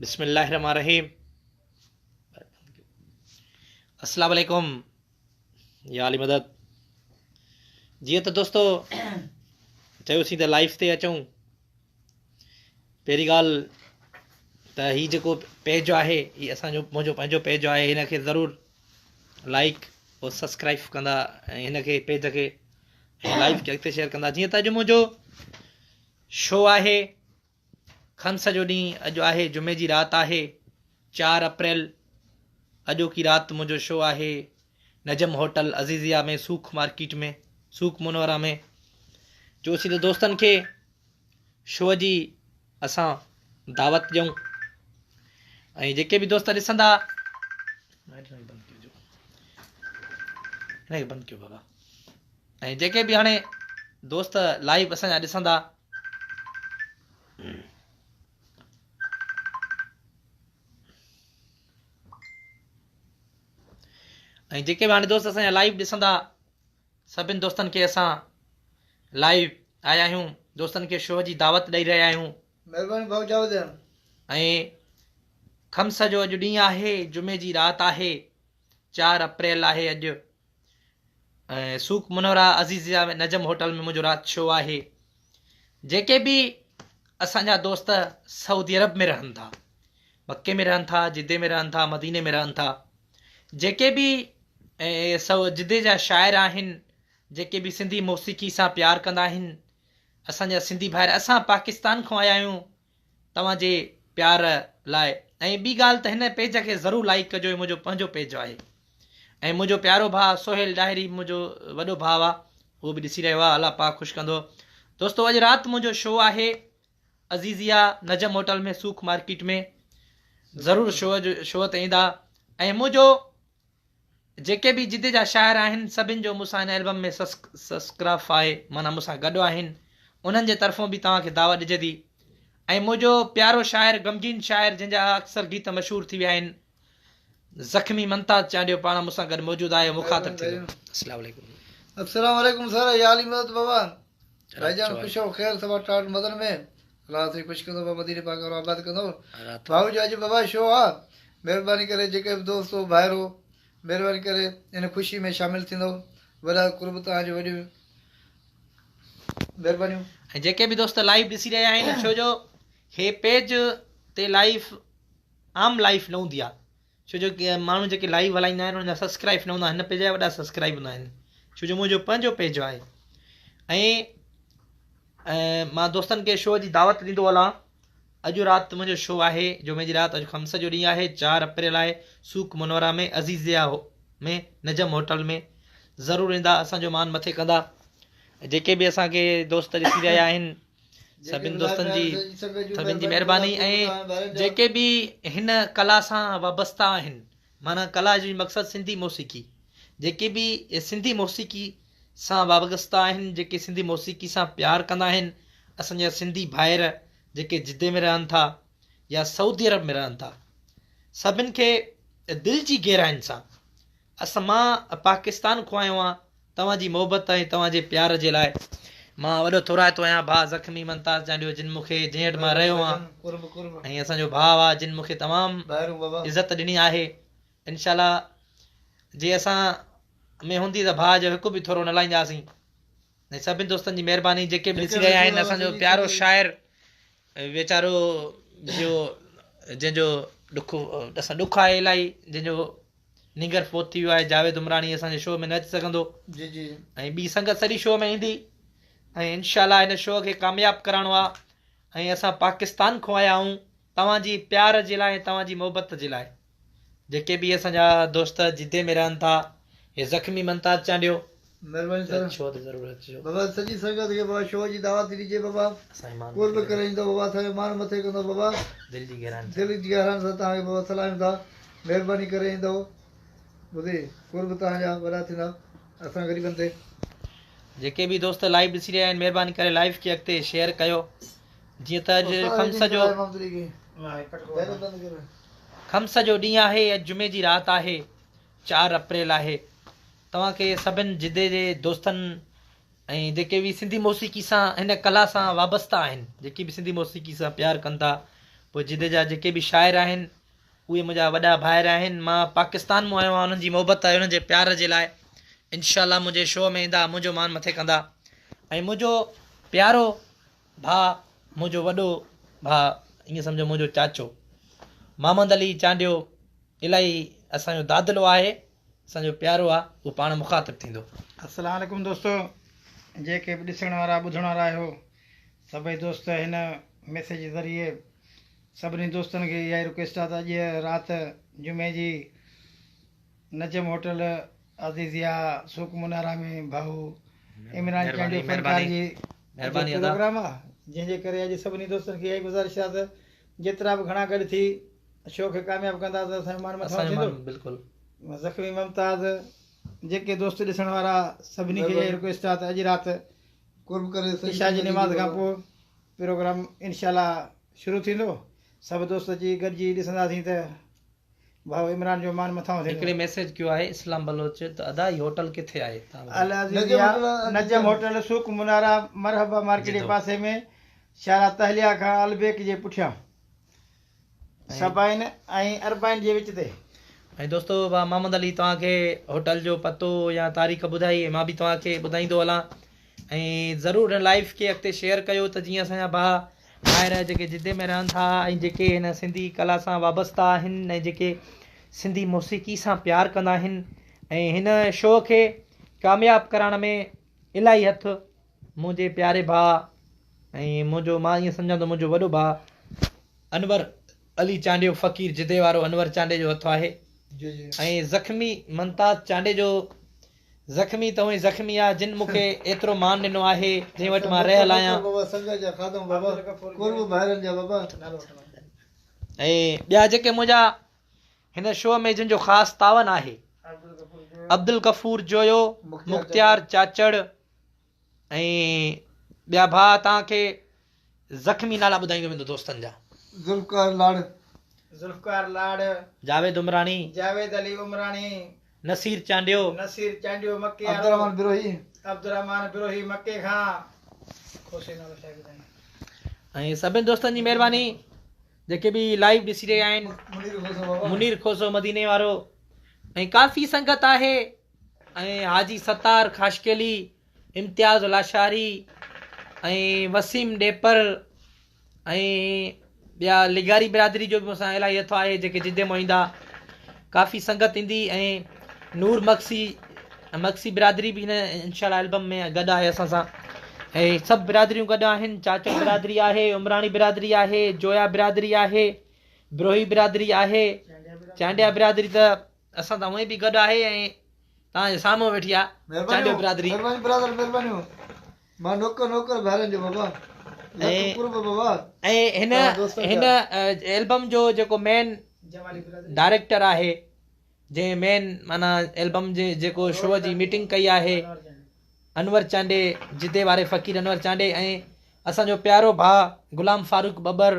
بسم الله الرحمن الرحيم السلام عليڪم يا علي مدد جيئن ته دوستو چيوسين ته لائف تي اچون پهرين ڳالهه ته هي جيڪو پيج آهي هي اسانجو منهنجو پنهنجو پيج آهي هن کي ضرور لائڪ اور سبسڪرائب ڪندا هن کي پيج کي لائف کي اڳتي شيئر ڪندا جيئن ته اڄ منهنجو شو آهي کن سڄو ڏينهن اڄ آهي جمعي جي رات آهي چار اپريل اڄوڪي رات منهنجو شو آهي نجم هوٽل عزيزيا ۾ سوک مارڪيٽ ۾ سوک منورا ۾ جو اسين ته دوستن کي شو جي اسان دعوت ڏيون ۽ جيڪي به دوست ڏسندا بند ڪيو بابا ۽ جيڪي به هاڻي دوست لائيو اسان جا ڏسندا ۽ جيڪي به هاڻي دوست اسان جا لائيو ڏسندا سڀن دوستن کي اسان لائيو آيا آهيون دوستن کي شو جي دعوت ڏيئي رهيا آهيون مهرباني ڀاء جاء وديان ۽ خمس جو اڄ ڏينهن آهي جمعي جي رات آهي چار اپريل آهي اڄ ۽ Souq Munawara Aziziyah ۾ Najm hotel ۾ منهنجو رات شو آهي جيڪي به اسان جا دوست سعودي عرب ۾ رهن ٿا مڪي ۾ رهن ٿا جدي ۾ رهن ٿا مديني ۾ رهن ٿا جيڪي به سو جدي جا شاعر آهن جيڪي به سنڌي موسيقي سان پيار ڪندا آهن اسان جا سنڌي ڀائر اسان پاڪستان کان آيا آهيون توهان جي پيار لاء ۽ ٻي ڳالهه ته هن پيج کي ضرور لائيڪ ڪجو هي منهنجو پنهنجو پيج آهي ۽ منهنجو پيارو ڀاء سهيل ڏاهري منهنجو وڏو ڀاء آ هو به ڏسي رهيو آ الله پاڪ خوش ڪندو دوستو اڄ رات منهنجو شو آهي عزيزيا نجم هوٽل ۾ سوک مارڪيٽ ۾ ضرور شو جو شو تي ايندا ۽ منهنجو جيڪي به جدي جا شاعر آهن سڀن جو مون سان هن البم ۾ سسڪرف آهي معنيٰ مون سان گڏ آهن انهن جي طرفون به توهان کي دعوت ڏجي ٿي ۽ منهنجو پيارو شاعر غمگين شاعر جنهن جا اڪثر گيت مشهور ٿي ويا آهن زخمي منتاز چانڊيو پاڻ مون سان گڏ موجود آهي مخاطب ٿيندو السلام عليڪم السلام عليڪم سر يا علي مدد بابا رهي جان خوش و خير سوا ٽاٽ مدن ۾، رات جي خوش ڪندو ڀا مديني پاڪ وارو آباد ڪندو. ڀائو جو اڄ بابا شو آ، مهرباني ڪري جيڪي به دوست و ڀائرو مهرباني ڪري ان خوشي ۾ شامل ٿيندو، وڏا قرب توهان جون وڏيون مهربانيون. ۽ جيڪي به دوست لائيو ڏسي رهيا آهن ڇو جو هي پيج تي لائيو عام لائيو نه هوندي آ ڇو جو ماڻهو جيڪي لائيو هلائيندا آهن انهن جا سبسڪرائب نه هوندا آهن هن پيج جا وڏا سبسڪرائب هوندا آهن ڇو جو منهنجو پنهنجو پيج آهي ۽ مان دوستن کي شو جي دعوت ڏيندو هلان اڄ رات منهنجو شو آهي جمعي جي رات اڄ خمس جو ڏينهن آهي چار اپريل آهي Souq Munawara ۾ Aziziyah ۾ Najm hotel ۾ ضرور ايندا اسانجو مان مٿي ڪندا جيڪي به اسانکي دوست ڏسي رهيا آهن سڀن دوستن جي سڀن جي مهرباني ۽ جيڪي به هن ڪلا سان وابسته آهن معنيٰ ڪلا جي مقصد سنڌي موسيقي جيڪي به سنڌي موسيقي سان وابسته آهن جيڪي سنڌي موسيقي سان پيار ڪندا آهن اسانجا سنڌي ڀائر جيڪي جدي ۾ رهن ٿا يا سعودي عرب ۾ رهن ٿا سڀن کي دل جي گهراين سان اسان مان پاڪستان کون آيو آهيان توهان جي محبت ۽ توهان جي پيار جي لاء مان وڏو ٿورائتو آهيان ڀاء زخمي ممتاز چانڊيو جن مون کي جنهن هٽ مان رهيو هان ۽ اسان جو ڀاء آ جن مون کي تمام عزت ڏني آهي انشاء الله جي اسان ۾ هوندي ته ڀاء جو هڪ به ٿورو نه لائينداسين ۽ سڀني دوستن جي مهرباني جيڪي به ڏسي رهيا آهن اسان جو پيارو شاعر ويچارو جو جنهن جو ڏک اسان ڏک آهي الاهي جنهن جو نينگر فوت ٿي ويو آهي جاويد عمراڻي اسان جي شو ۾ نه اچي سگهندو جي جي ۽ ٻي سنگت سڄي شو ۾ ايندي ۽ انشاء الله هن شو کي ڪامياب ڪرائڻو آهي ۽ اسان پاڪستان کان آيا آهيون توهان جي پيار جي لاء ۽ توهان جي محبت جي لاء جيڪي به اسان جا دوست جدي ۾ رهن ٿا هي زخمي منتاز چانڊيو مھرباني سان اچو ته ضرور اچجو. بابا سڄي سنگت کي بابا شو جي دعوت ڏجي بابا اسانجي مان قرب مٿي ڪري ايندو بابا اسان جو مان مٿي ڪندو بابا دل جي گهرائن سان دل جي گهرائن سان توهان کي بابا سلاهيون ٿا مهرباني ڪري ايندو ٻڌي قرب توهان جا وڏا ٿيندا اسان غريبن تي جيڪي به دوست لائيو ڏسي رهيا آهن مهرباني ڪري لائيو کي اڳتي شيئر ڪيو جيئن ته اڄ خمس جو خمس جو ڏينهن آهي اڄ جمعي جي رات آهي چار اپريل آهي توهان کي سڀن جدي جي دوستن ۽ جيڪي به سنڌي موسيقي سان هن ڪلا سان وابسته آهن جيڪي به سنڌي موسيقي سان پيار ڪن ٿا پوء جدي جا جيڪي به شاعر آهن اهي منهنجا وڏا ڀائر آهن مان پاڪستان مون آيو آهيان انهن جي محبت ۽ انهن جي پيار جي لاء انشاء الله منهنجي شو ۾ ايندا منهنجو مان مٿي ڪندا ۽ منهنجو پيارو ڀاء، منهنجو وڏو ڀاء، ائين سمجهو منهنجو چاچو، محمد علي چانڊيو الاهي اسان جو دادلو آهي، اسان جو پيارو آ، هو پاڻ مخاطب ٿيندو. السلام عليڪم دوستو جيڪي به ڏسڻ وارا ٻڌڻ وارا آهيو سڀئي دوست هن ميسيج جي ذريعي سڀني دوستن کي اها ئي رڪويسٽ آ ته اڄ رات جمعي جي نجم هوٽل عزيزيه سوق منارا ۾ ڀائو عمران چانڊيو فنڪار جي جو پروگرام آ جنهن جي ڪري اڄ سڀني دوستن کي اها ئي گذارش آ ته جيترا به گهڻا گڏ ٿي شو کي ڪامياب ڪندا ته اسان جو مان مٿاهون ٿيندو زخمي ممتاز جيڪي دوست ڏسڻ وارا سڀني کي اها ئي رڪويسٽ آ ته اڄ رات قرب ڪري عشاء جي نماز کان پوء پروگرام انشاء الله شروع ٿيندو سڀ دوست اچي گڏجي ڏسنداسين ته ڀائو عمران جو مان مٿانهون ٿيندو. هڪڙي ميسيج ڪيو آهي اسلام بلوچ ته ادا هي هوٽل ڪٿي آهي تان ٻڌايو. العزيز يا نجم هوٽل سوق منارا مرحبا مارڪيٽ جي پاسي ۾ شارع تهليا کان البيڪ جي پٺيان سبعين ۽ اربعين جي وچ تي. ۽ دوستو محمد علي توهان کي هوٽل جو پتو يا تاريخ ٻڌائي مان به توهان کي ٻڌائيندو هلان. ۽ ضرور هن لائيف کي اڳتي شيئر ڪيو ته جيئن اسان جا ڀاء ڀائر جيڪي جدي ۾ رهن ٿا ۽ جيڪي هن سنڌي ڪلا سان وابسته آهن ۽ جيڪي سنڌي موسيقي سان پيار ڪندا آهن ۽ هن شو کي ڪامياب ڪرائڻ ۾ الاهي هٿ منهنجي پياري ڀاء ۽ منهنجو مان ائين سمجهان ٿو منهنجو وڏو ڀاء انور علي چانڊيو فقير جدي وارو انور چانڊي جو هٿ آهي ۽ زخمي ممتاز چانڊي جو زخمي ته اوهين زخمي آ جن مونکي ايترو مان ڏنو آهي جنهن وٽ مان رهيل آهيان. ۽ ٻيا جيڪي منهنجا هن شو ۾ جن جو خاص تعاون آهي عبدالغفور جويو مختيار چاچڙ ۽ ٻيا ڀاء توهان کي زخمي نالا ٻڌائيندو ويندو دوستن جا. ذوالفقار لاڙ. ذوالفقار لاڙ. جاويد عمراڻي. جاويد علي عمراڻي. نصير چانڊيو. نصير چانڊيو مڪي وارو. عبدالرحمان بروهي. عبدالرحمان بروهي مڪي کان. کوسي نالو شايد ٻڌائين. ۽ سڀني دوستن جي مهرباني جيڪي به لائيو ڏسي رهيا آهن. منير کوسو بابا. منير کوسو مديني وارو ۽ ڪافي سنگت آهي. ۽ حاجي ستار خاشقيلي، امتياز لاشاري ۽ وسيم ڏيپر ۽ ٻيا لغاري برادري جو به مون سان الاهي هٿ آهي جيڪي جدي مون ايندا ڪافي سنگت ايندي ۽ نور مگسي مگسي برادري به هن انشاء الله البم ۾ گڏ آهي اسان سان ۽ سڀ برادريون گڏ آهن چاچو برادري آهي عمراڻي برادري آهي جويا برادري آهي بروهي برادري آهي چانڊيا برادري ته اسان سان هونئن به گڏ آهي ۽ توهان جي سامهون ويٺي آ چانڊيو برادري. مھربانيون برادر مھربانيون مان نوڪر نوڪر ڀائرن جو بابا لک قرب بابا ۽ هن البم جو جيڪو مين ڊائريڪٽر آهي جنهن مين معنيٰ البم جي جيڪو شو جي ميٽنگ ڪئي آهي انور چانڊي جدي واري فقير انور چانڊي ۽ اسانجو پيارو ڀاء غلام فاروق ٻٻر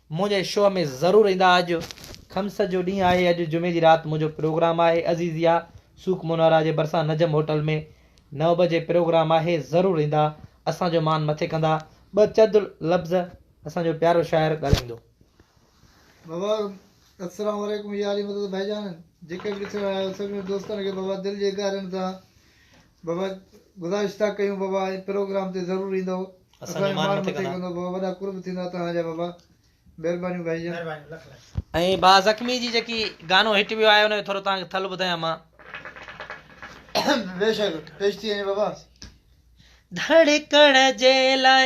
منهنجي شو ۾ ضرور ايندا اڄ خمس جو ڏينهن آهي اڄ جمعي جي رات منهنجو پروگرام آهي عزيزيا سوق منورا جي ڀرسان نجم هوٽل ۾ نو بجي پروگرام آهي ضرور ايندا اسان جو مان مٿي ڪندا ٻه چد لفظ اسان جو پيارو شاعر ڳالهائيندو. بابا السلام عليڪم يا علي مدد ڀائيجان جيڪي به ڏسڻ آيا آهيو سڀني دوستن کي بابا دل جي گهرائين تان بابا گذاشتا ڪيون بابا ۽ پروگرام تي ضرور ايندؤ اسان جو مان مٿي ڪندو بابا وڏا قرب ٿيندا توهان جا بابا مهربانيون ڀائي جان مهربانيون لک لک. ۽ با زخمي جي جيڪي گانو هٽ ويو آهي ان جو ٿورو توهان کي ٿل ٻڌايان مان. بيشڪ پيش ٿي وڃي بابا. ڌڙڪڻ جي لاء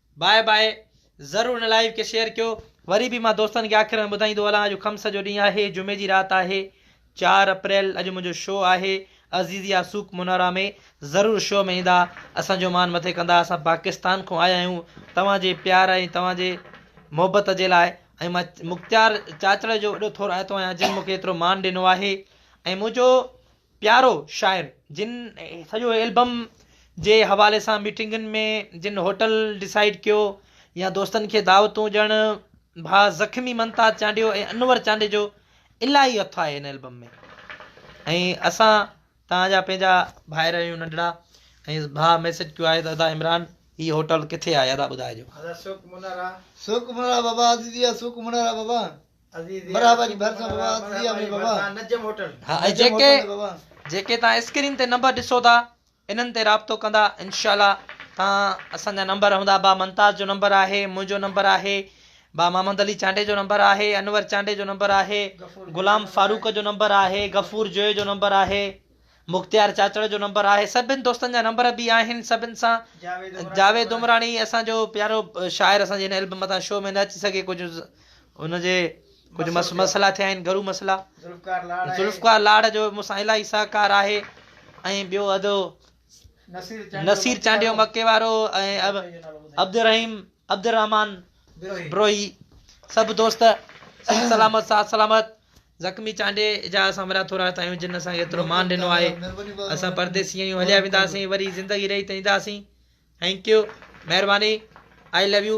باء باء ضرور هن لائيو کي شيئر ڪيو وري به مان دوستن کي آخر ۾ ٻڌائيندو هلان اڄ خمس جو ڏينهن آهي جمعي جي رات آهي چار اپريل اڄ منهنجو شو آهي عزيزيا سوق منارا ۾ ضرور شو ۾ ايندا اسان جو مان مٿي ڪندا اسان پاڪستان کون آيا آهيون توهان جي پيار ۽ توهان جي محبت جي لاء ۽ مان مختيار چاچڙ جو وڏو ٿورو آيتو آهيان جن مونکي ايترو مان ڏنو آهي ۽ منهنجو پيارو شاعر جن سڄو البم جي حوالي سان ميٽنگن ۾ جن هوٽل ڊسائيڊ ڪيو يا دوستن کي دعوتون ڄڻ ڀا زخمي منتاز چانڊيو ۽ انور چانڊيجو الاهي هٿ آهي هن البم ۾ ۽ اسان توهان جا پنهنجا ڀائر آهيون ننڍڙا ۽ ڀا ميسج ڪيو آهي ته ادا عمران هي هوٽل ڪٿي آهي ادا ٻڌائجو. ادا سوڪ منارا سوڪ منارا بابا عزيزيا سوڪ منارا بابا. برا بجي ڀرسان بابا سيا مي بابا نجم هوٽل ها ۽ جيڪي جيڪي تان اسڪرين تي نمبر ڏسو ٿا انهن تي رابطو ڪندا انشاءالله تان اسان جا نمبر هوندا با منتاز جو نمبر آهي منهنجو نمبر آهي با محمد علي چانڊي جو نمبر آهي انور چانڊي جو نمبر آهي غلام فاروق جو نمبر آهي غفور جوئي جو نمبر آهي مختيار چاچڙ جو نمبر آهي سڀن دوستن جا نمبر به آهن سڀن سان جاويد عمراڻي اسان جو پيارو شاعر اسان جي هن البم مٿان شو ۾ نه اچي سگهي ڪجهه ان جي ڪجهه مسئلا ٿيا آهن گهرو مسئلا ذوالفقار لاڙ جو مون سان الاهي سهڪار آهي ۽ ٻيو ادو نصير چانڊيو مڪي وارو ۽ عبدالرحيم عبدالرحمان بروهي سڀ دوست سلامت سات سلامت زخمي چانڊيي جا اسان وڏا ٿورا ٿا آهيون جن اسان کي ايترو مان ڏنو آهي اسان پرديسي آهيون هليا وينداسين وري زندگي رهي ته اينداسين ٿينڪ يو مهرباني آئي لو يو